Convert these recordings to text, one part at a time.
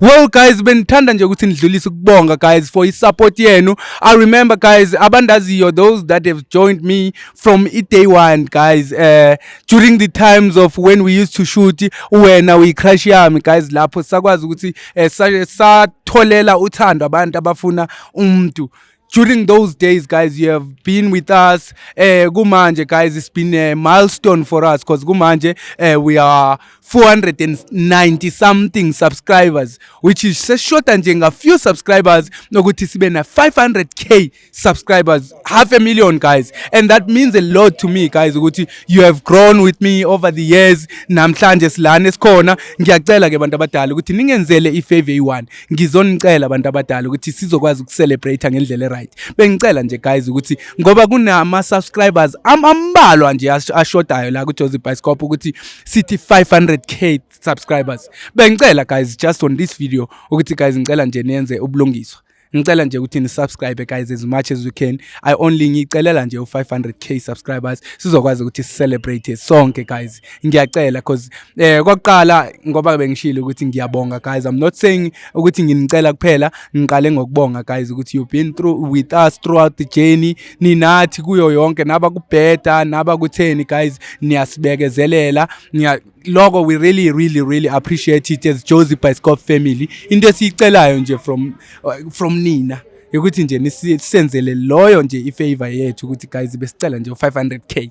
Well guys benithanda nje ukuthi nidlulise ukubonga guys for isupport yenu. I remember guys abandaziyo those that have joined me from day one guys uh, during the times of when we used to shoot wena we crush yami guys lapho sakwazi ukuthi uh, satholela uthando abantu abafuna umuntu during those days guys you have been with us eh kumanje guys it's been a milestone for us because kumanje eh, we are 490 something subscribers which is seshoda nje nga few subscribers nokuthi sibe na 500k subscribers half a million guys and that means a lot to me guys ukuthi you have grown with me over the years namhlanje silana esikhona ngiyacela ke bantu abadala ukuthi ningenzele ifavor eyi-one ngizonicela abantu abadala ukuthi sizokwazi ukucelebrate ngendlela eright bengicela nje guys ukuthi ngoba kunama subscribers ambalwa nje ashodayo la ku Jozi Bioscope ukuthi sithi 500k subscribers bengicela guys just on this video ukuthi guys ngicela nje niyenze ubulungiswa ngicela nje ukuthi nisubscribe guys as much as you can i only ngicelela nje u500k subscribers sizokwazi ukuthi celebrate sonke guys ngiyacela cause Eh kokuqala ngoba bengishilo ukuthi ngiyabonga guys I'm not saying ukuthi nginicela kuphela ngiqale ngokubonga guys ukuthi you've been through with us throughout the journey ninathi kuyo yonke naba kubheda naba kutheni guys niyasibekezelela niya lokho we really really really appreciate it as Josie by Scott family into esiyicelayo nje from uh, from nina ukuthi nje nisenzele loyo nje ifavor yethu ukuthi guys besicela nje 500k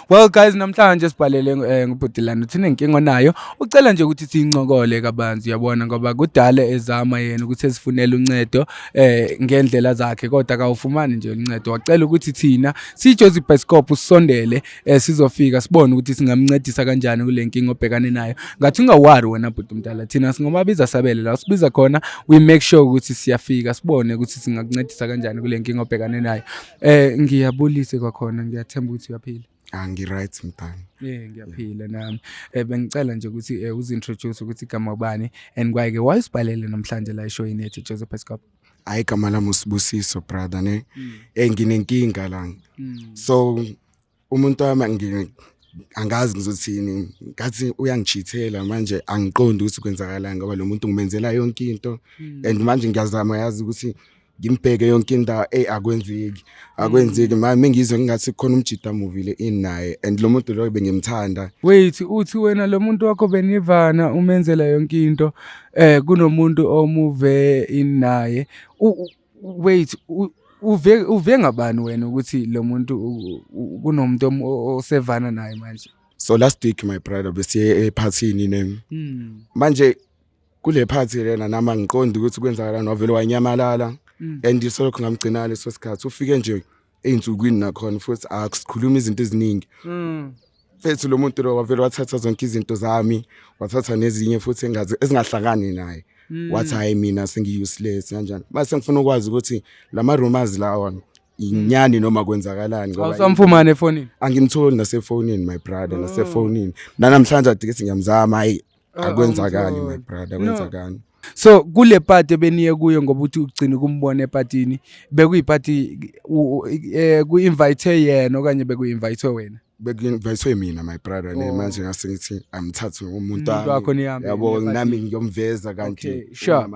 well guys namhlanje sibhalele eh, ngubhutilana uthina inkinga onayo ucela nje ukuthi siyincokole kabanzi uyabona ngoba kudala ezama yena ukuthi esifunele uncedo eh ngendlela zakhe kodwa kawufumani nje uncedo wacela ukuthi thina sijozi Bioscope usondele eh, sizofika sibone ukuthi singamncedisa kanjani kule nkinga obhekane nayo ngathi ungawari wena bhuti umdala thina singomabiza sabele la sibiza khona we make sure ukuthi siyafika sibone ukuthi singakuncedisa kanjani kule nkinga obhekane nayo Eh ngiyabulise kwakhona ngiyathemba ukuthi uyaphila. Ah ngiright mntana. Eh ngiyaphila nami. Eh bengicela nje ukuthi eh, uzintroduce ukuthi igama ubani and kwayike why usibhalele namhlanje la show yethu Joseph Escop. Hayi gama lami usibusiso brother ne. Mm. Eh nginenkinga la. Mm. So umuntu wami angi- angazi ngizothini ngathi uyangichithela manje angiqondi ukuthi kwenzakalani ngoba lo muntu ngimenzela yonke into and manje ngiyazama yazi ukuthi ngimbheke yonke indawo eyi akwenzeki akwenzeki manje mengizwe ngingathi khona umjita amuvile ini naye and lo muntu loyo bengimthanda wait uthi wena lo muntu wakho benivana umenzela yonke into eh kunomuntu omuve in naye U- u- wait uve uve ngabani wena ukuthi lo muntu kunomuntu osevana naye manje so last week my brother besiye ephathini ne hmm. manje kule phathi lena nama ngiqondi ukuthi kwenzakalani wavele wanyamalala hmm. and isolokho ngamgcinala leso sikhathi ufike nje ey'nsukwini nakhona futhi akusikhuluma izinto eziningi fethu lo muntu lo wavele wathatha zonke izinto zami wathatha nezinye futhi engazi ezingahlangani naye wathi hhayi mina sengi-useless kanjani mase sengifuna ukwazi ukuthi la ma-rumors lawa inyani noma kwenzakalani ngoba awusamfumane efonini angimtholi nasefonini my brother nasefonini nanamhlanje adike singiyamzama hhayi Ah, akwenzakani my brother akwenzakani so kule party beniye kuyo ngoba uthi ugcina ukumbona epatini bekuyipati eh, ku-invithe yena okanye bekuyi-invithe wena bekuinvitwe mina my brother ne oh. manje ngase ngithi amthathe umuntu wakho yabo nami ngiyomveza kanti sure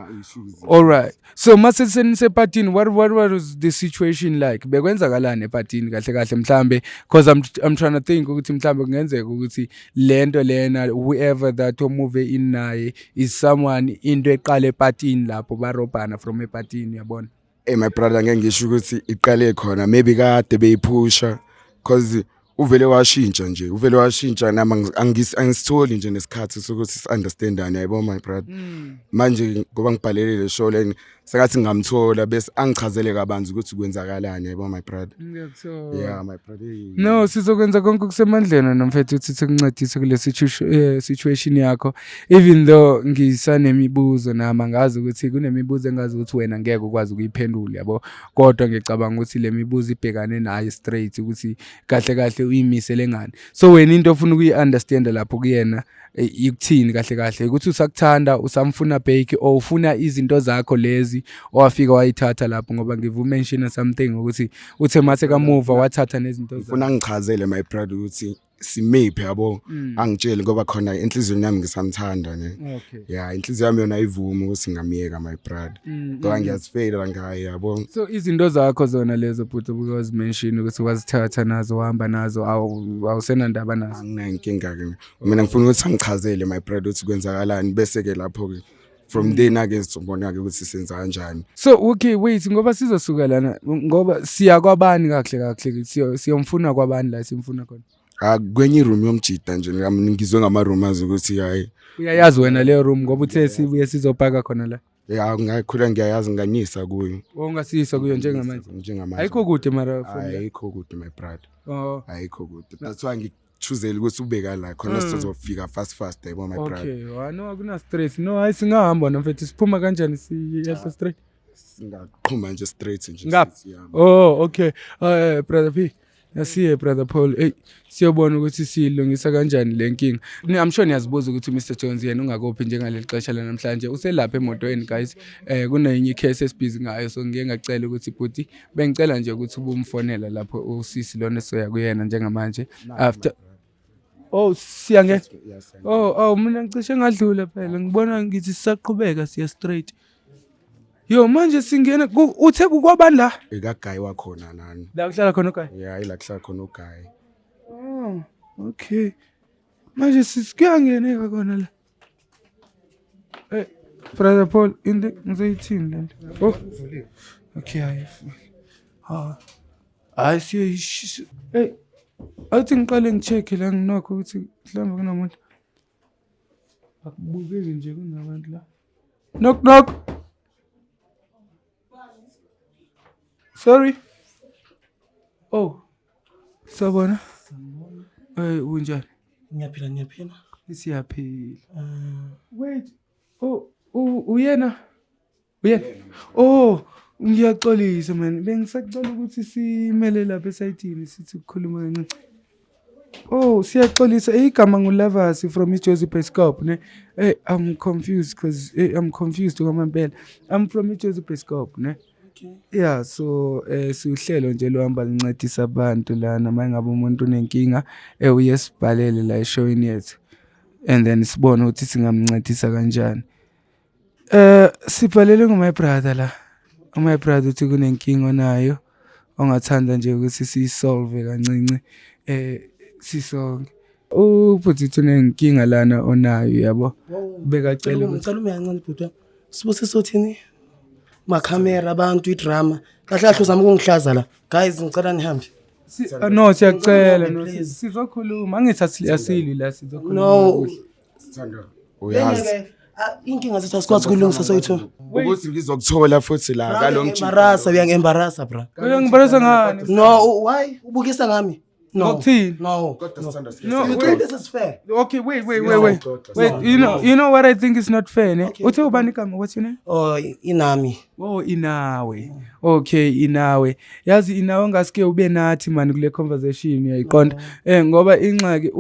all right so uma senisepartini what, what was the situation like bekwenzakalani epatini kahle kahle mhlambe because I'm, I'm trying to think ukuthi mhlambe kungenzeka ukuthi le nto lena whoever that omuve in naye is someone into eqale epatini lapho barobhana from epatini yabona hey my brother ngeke ngisho ukuthi iqale khona maybe kade beyiphusha because uvele washintsha nje uvele washintsha nami angi- angis- angisitholi nje nesikhathi sokuthi si-understandane yayibo my brother Mm. manje ngoba ngibhalele le show leni sengathi ngamthola bese angichazele kabanzi ukuthi kwenzakalani yayibo my brother Ngiyakuthola. yeah my brother hey. No, sizokwenza konke okusemandleni wena mfethu ukuthi sikuncedise kule situ- eh, situation yakho. Even though ngisanemibuzo nami angazi ukuthi kunemibuzo engazi ukuthi wena ngeke ukwazi ukuyiphendula yabo. kodwa ngicabanga ukuthi le mibuzo ibhekane naye straight ukuthi kahle kahle uyimisele ngani so wena into ofuna ukuyi-understanda lapho kuyena e, ikuthini kahle kahle ukuthi usakuthanda usamfuna bake or ufuna izinto zakho lezi owafika wayithatha lapho ngoba ngivumenshina something ukuthi uthe mase kamuva wathatha nezinto ufuna ngichazele my brother ukuthi simiphe yabo Mm. angitsheli ngoba khona enhliziyweni yami ngisamthanda ne Okay. ya inhliziyo yami yona ayivumi ukuthi ngamyeka my brother Mm, ngoba mm. ngiyazifeyila ngaye yabo So izinto zakho zona lezo bhuti because mention ukuthi wazithatha nazo wahamba nazo awu- awusenandaba nazo. anginankinga-ke mina ngifuna ukuthi angichazele my brother ukuthi kwenzakalani bese-ke lapho-ke from mm. then ake sizobona-ke ukuthi senza kanjani so okay wait ngoba sizosuka lana ngoba siya kwabani kahle kahle siyomfuna kwabani la simfuna khona ah, kwenye iroom yomjida nje ngizwe ngama-rumors ukuthi hayi uyayazi wena leyo room ngoba uthe sibuye sizopaka khona la ya ngakhula ngiyayazi nganisa kuyo ongasiyisa kuyo njengamanje njengamanje ayikho kude mara ayikho kude my brother oh ayikho kude that's why choosele ukuthi ubeka la khona Mm. sizofika fast fast yabo my brother okay wa no akuna stress no hayi singahamba wena mfethu siphuma kanjani siyehla straight singaqhuma nje straight nje Ngapha? sithi, yeah. oh okay uh, brother p asiye brother paul eyi siyobona ukuthi siyilungisa kanjani le nkinga Ni- i'm sure niyazibuza ukuthi umr jones yena ungakophi njengaleli xesha lanamhlanje uselapha emotweni guys um kunenye icase esibhizi ngayo so ngike ngacela ukuthi bhuti Bengicela nje ukuthi ubumfonela lapho usisi lona soya kuyena njengamanje after Oh siya nge Oh oh mina ngicishe ngadlula phela ngibona ngithi sisaqhubeka siya straight Yo manje singena uthe kukwabani la? Ikaguy wakhona nani. La kuhlala khona uguy. Yeah, ila kuhlala khona uguy. Oh, okay. Manje sisikuyangeneka kona la. Eh, brother Paul, into ngizoyithini lento? Oh. Okay, hayi. Ha. Hayi siyoyishisa. Hey. Athi ngiqale ngicheck la nginokho ukuthi mhlawumbe kunomuntu. Akubukeki nje kunabantu la. Knock knock. Sorry. Oh. Sabona. Eh unjani? Ngiyaphila ngiyaphila. Siyaphila. Eh. Wait. Oh uyena. Uyena. Oh ngiyaxolisa man. Bengisacela ukuthi simele lapha esayidini sithi ukukhuluma kancane. Oh, siyaxolisa. Hey, igama nguLavasi from iJozi Beskop, ne? Hey, I'm confused because hey, I'm confused kwamampela. I'm from iJozi Beskop, ne? Yeah, so eh siuhlelo nje lohamba lincedisa abantu lana mangabe umuntu unenkinga eh uyesibhalele la eshowini yethu. And then sibone ukuthi singamncedisa kanjani. Eh sibhalele ngo my brother la. U my brother uthi kunenkinga onayo ongathanda nje ukuthi siyisolve kancinci eh sisonke. Ubhuti uthi unenkinga lana onayo yabo. Bekacela ukuthi ngicela uyanqala bhuti. Sibusiso uthini? Ma camera abantu i drama. Kahle kahle uzama ukungihlaza la. Guys ngicela nihambe. Ah, no siyacela no sizokhuluma angithi asili la sizokhuluma no Sithando. Uyazi. Ah, inkinga zethu asikwazi kulungisa soyitho. Ukuthi ngizokuthola futhi la ngalomjini. Embarasa uyangembarasa bra. Uyangibalisa ngani? No, u- why? Ubukisa ngami? No. Ngokuthini? No. Kodwa sithando No, You wait. think this is fair? Okay, wait, wait, wait, wait. Siyaxoxa, Wait, you know, you know what I think is not fair, ne? Uthe ubani igama, what's your name? Oh, inami. Oh inawe. Okay inawe. Yazi inawe ngasike ube nathi mani kule conversation uyayiqonda. Eh ngoba ingxaki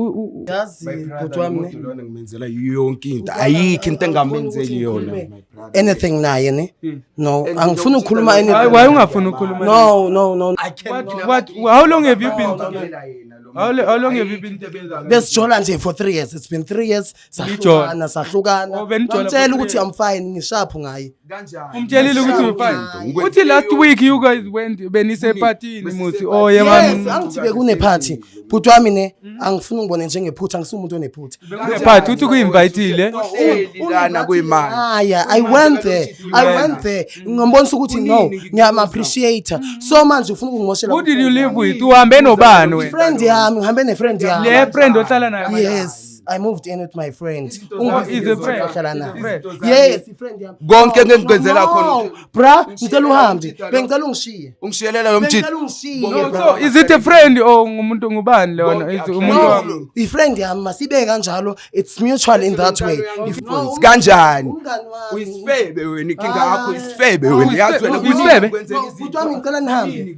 yazi kodwa wami lona ngimenzela yonke into. Ayikho into engamenzeli yona. Anything naye ne? Hmm. No, angifuni ukukhuluma anything. Why ungafuni ukukhuluma? No, no, no. I can't. What, what, how long have you been together? How, how long have you been besijola nje for three years it's been three years sahlukana sahlukana ngitshela ukuthi i'm fine ngishaphu ngaye kanjani umtshelile ukuthi ufine Ngikwenze uthi last yonke week you guys went benisepatini Bese- muthi bese- oh yema yes angithi bekunephathi bhuti wami ne angifuni ungibone njengephutha angisumuntu onephutha party uthi kuinvitile Uhleli lana kwemali haya i went there i went there ngambonisa ukuthi no Kuningi ngikubuza. ngiyama-appreciate so manje ufuna ukungimoshela who did you live with uhambe nobani wena friend yami ngihambe ne-friend yami le friend ohlala nayo yes I moved in with my friend. Oh, is a friend. Ngihlala naye. Is a friend. Izinto zami. Yes, i-friend yami. Konke engikwenzela No, khona. Bra, ngicela uhambe. Ngishiyela Bengicela ungishiye. ungishiyelela lo mjita Bengicela ungishiye. Bonke No, bra. so is it a friend or ngumuntu ngubani lona Bonke Is akushayi. umuntu No, wami No. i-friend yami masibeke kanjalo. It's mutual in that way. Umntwana If- wami. No, kanjani umngani wami. uyisifebe wena ikinga yakho Ah. isifebe wena Uyisifebe, yazi wena uyisifebe. kuningi okwenzeka No, izinto. bhuti wami, ngicela nihambe. Yini?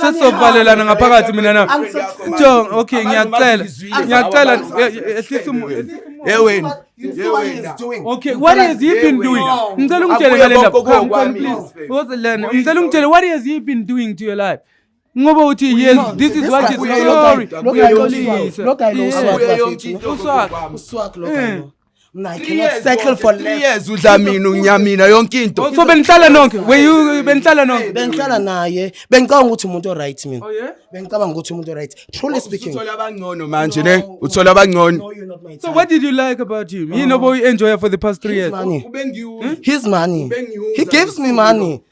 sesizovalelana ngaphakathi mina na jo okay ngiyacela ngiyacela ehlisa yeweni okay what has he been doing ngicela ungitshele ngale ndaba because lena ngicela ungitshele what has he been doing to your life ngoba uthi yes this is what is glory uyaxolisa uswak uswak lo mna i cannot settle for less years udla mina unya mina yonke into so benihlala nonke were you benihlala nonke bengihlala naye bengicabanga ukuthi umuntu oright mina oh yeah bengicabanga ukuthi umuntu oright truly speaking uthola abangcono manje ne uthola abangcono no you're not my type so what did you like about him yini oboyi enjoy for the past 3 years ubengiwu his money he gives me money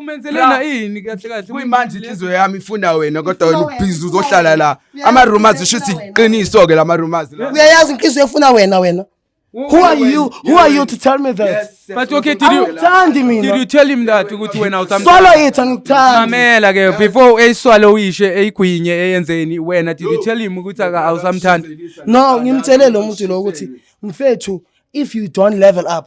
umenzelena ini kahle kahle kuyimanje inhliziyo yami ifuna wena kodwa wena ubhizi uzohlala la ama-rumors isho ukuthi iqiniso-ke la ma-rumors la uyayazi inhliziyo efuna wena wena Who are you? Who are you to tell me that? Yes, yes. But okay, did you Angithandi did mina. you tell him that ukuthi wena usamthanda? Swallow it angithandi. Mamela ke before eyiswalo uyishe eyigwinye eyenzeni wena did you tell him ukuthi aka- awusamthandi? No, ngimtshele lo muntu lo ukuthi mfethu if you don't level up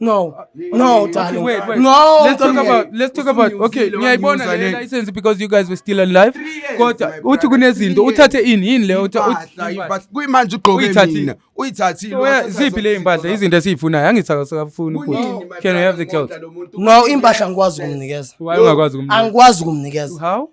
No. Uh, no, darling. Wait, wait. No. Let's talk about let's talk about okay, ngiyayibona le license because you guys were still alive. Kodwa uthi kunezinto uthathe ini yini le uthi kuyimanje ugqoke mina. Uyithathile. Oh, ziphi le impahla izinto esizifunayo angithakasakafuni ukuthi can we have the clothes? No, impahla ngikwazi ukumnikeza. Why ungakwazi ukumnikeza? Angikwazi ukumnikeza. How?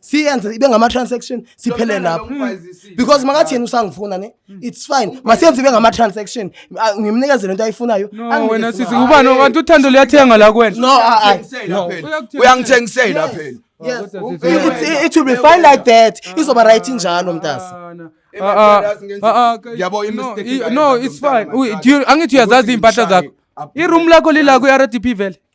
siyenze ibe ngama-transaction siphele lapho because makathi yena usangifuna ne hmm. it's fine masiyenze ibe ngama-transaction ah, ngimnikeze lento ayifunayo wena sisi ubani okanti uthando luyathenga la kwena no ah, ah, uyangithengisela phela Yes. It, it will be fine like that. Izoba right njalo mntasi. Yabo imistake. No, it's fine. Angithi uyazazi impahla zakho. I-room lakho lila ku-RDP vele.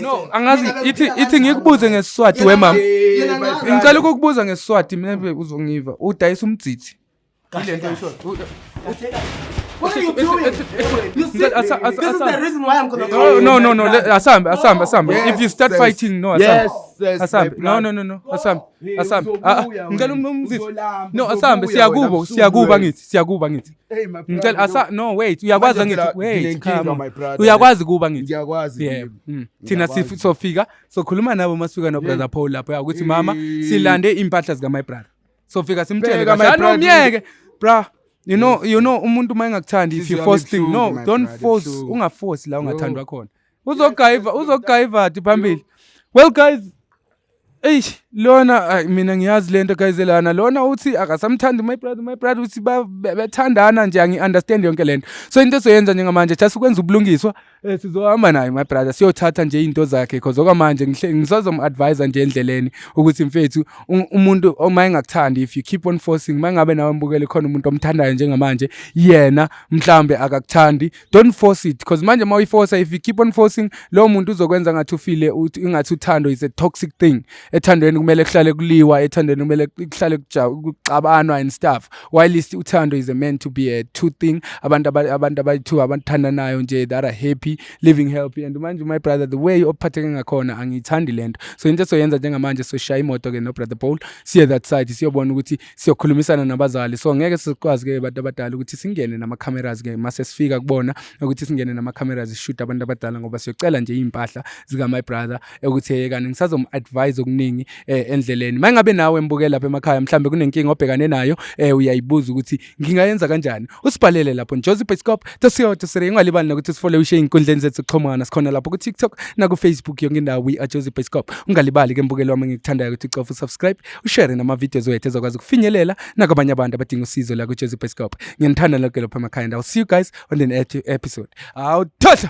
no angazi ithi ithi ngikubuze ngesiswati wemama ngicela ukukubuza ngesiswati mebe uzongiva udayisa umdzithi ile nto isho What are you doing? You see, this is the reason why I'm gonna go. No, no, no, no. Asambe, asambe, asambe. If you start fighting, no, asambe. Yes, asambe. No, no, no, no. Asambe. Asambe. Ngicela umzithi. No, asambe. Siyakubo, siyakuba ngithi, siyakuba ngithi. Hey my brother. Ngicela asa no wait uyakwazi ngithi wait come. Uyakwazi kuba ngithi. Ngiyakwazi. Yeah. Mm. Thina sofika sokhuluma nabo masifika no brother Paul lapho yakuthi mama silande impahla zika my brother. Sofika simtshele kahle no myeke bra. You know you know umuntu uma engakuthandi if you force thing no don't force ungaforce la ungathandwa khona. uzogayiva uzogayivadi phambili well guys eish lona ay, mina ngiyazi lento guys lana lona uthi akasamthandi my brother my brother uthi ba- be- bethandana nje angi-understand yonke lento so into esoyenza njengamanje just ukwenza ubulungiswa eh, sizohamba naye my brother siyothatha nje into zakhe cause okwamanje ngihle- ngisazomu-advise nje endleleni ukuthi mfethu u- umuntu uma engakuthandi if you keep on forcing uma ngabe nawe mbukele khona umuntu omthandayo njengamanje yena mhlambe akakuthandi don't force it because manje uma uyiforsa if you keep on forcing lowo muntu uzokwenza ngathi ufile ingathi uthando is a toxic thing ethandweni kumele kuhlale kuliwa ethandweni kumele kuhlale kuxabanwa and stuff while is uthando is a meant to be a two thing abantu abantu abayi-two abathandanayo nje that are happy living healthy and manje my brother the way ophatheke ngakhona angiyithandi le nto so into esoyenza njengamanje soshaya imoto-ke nobrother paul siye that side siyobona ukuthi siyokhulumisana nabazali so ngeke sikwazi ke abantu abadala ukuthi singene nama cameras ke mase sifika kubona ukuthi singene nama cameras shoot abantu abadala ngoba siyocela nje impahla zika my brother ukuthi yekani ngisazom advise okuningi eh, endleleni mangabe nawe mbuke lapha emakhaya mhlambe kunenkinga obhekane nayo eh, uyayibuza ukuthi ngingayenza kanjani usibhalele lapho njozi pescop tosiyoto sire ingalibali nokuthi sifole ushe inkundleni zethu kuxhumana sikhona lapho ku TikTok na ku Facebook yonke indawo we are Jozi Pescop ungalibali ke mbukelo wami ngikuthandayo ukuthi ucofa subscribe ushare nama-videos wethu ezokwazi ukufinyelela nakwabanye abantu abadinga usizo la kwijesu bhescope ngiyanithanda loke lopha emakhaya and ill see you guys on the next episode awuthohla